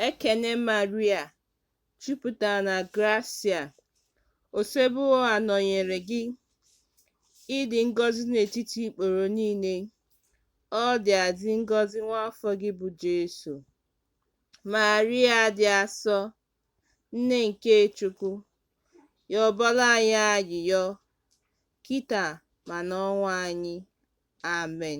Ekene Maria, jupụtara na grasia, Osebụrụwa nọnyere gị, ị dị ngọzi n'etiti ikporo niile, ọ dịazị ngọzi nwa afọ gị bụ Jesu. Maria dị asọ, nne nke Chukwu, yọbara anyị ayịyọ, kịta ma n'ọnwụ anyị. Amen.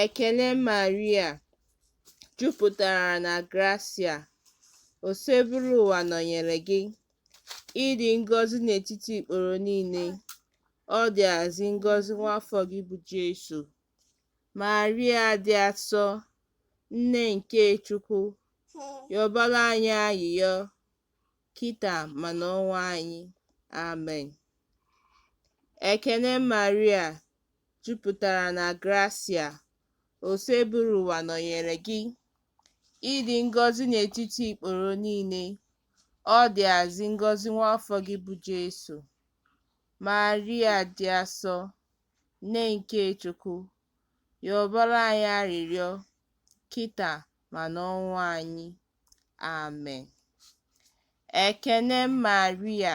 Ekene Maria, jupụtara na grasia, Osebụrụwa nọnyere gị. Ị dị ngọzi n'etiti ikporo niile, ọ dịazị ngọzi nwa afọ gị bụ Jesu. Maria dị asọ, nne nke Chukwu, yọbara anyị ayịyọ, kịta ma n'ọnwụ anyị. Amen. Ekene Maria, jupụtara na grasia, Osebụrụwa nọnyere gị, ị dị ngọzi n'etiti ikporo niile, ọ dịazị ngọzi nwa afọ gị bụ Jesu. Maria dị asọ, nne nke Chukwu, yọbara anyị arịrịọ kịta ma n'ọnwụ anyị. Amen. Ekene Maria,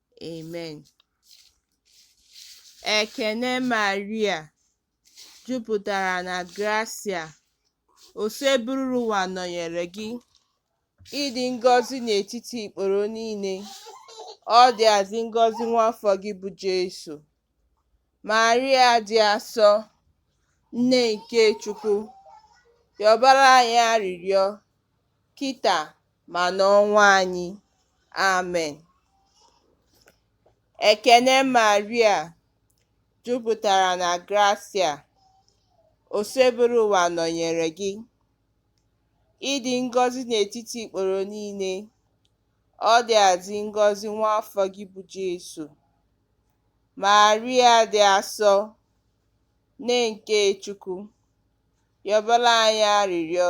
Amen. Ekene Maria jupụtara na grasia, Osebụrụwa nọnyere gị, ị dị ngọzi n'etiti ikporo niile, ọ dịazị ngọzi nwa afọ gị bụ Jesu. Maria dị asọ, nne nke Chukwu, yọbara anyị arịrịọ kịta ma n'ọnwụ anyị. Amen. Ekene Maria, jupụtara na grasia, Osebụrụwa nọnyere gị. Ị dị ngọzi n'etiti ikporo niile, ọ dịazị ngọzi nwa afọ gị bụ Jesu. Maria dị asọ, nne nke Chukwu, yọbara anyị arịrịọ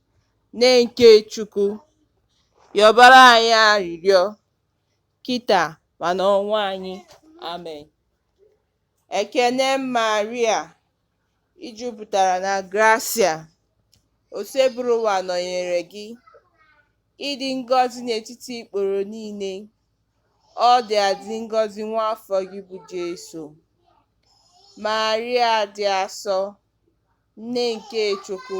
Nne nke Chukwu, yọbara anyị arịrịọ kịta ma n'ọnwụ anyị. Amen. Ekene Maria, i jupụtara na grasia, Osebụrụwa nọnyere gị, ị dị ngọzi n'etiti ikporo niile, ọ dịazị ngọzi nwa afọ gị bụ Jesu. Maria dị asọ, nne nke Chukwu,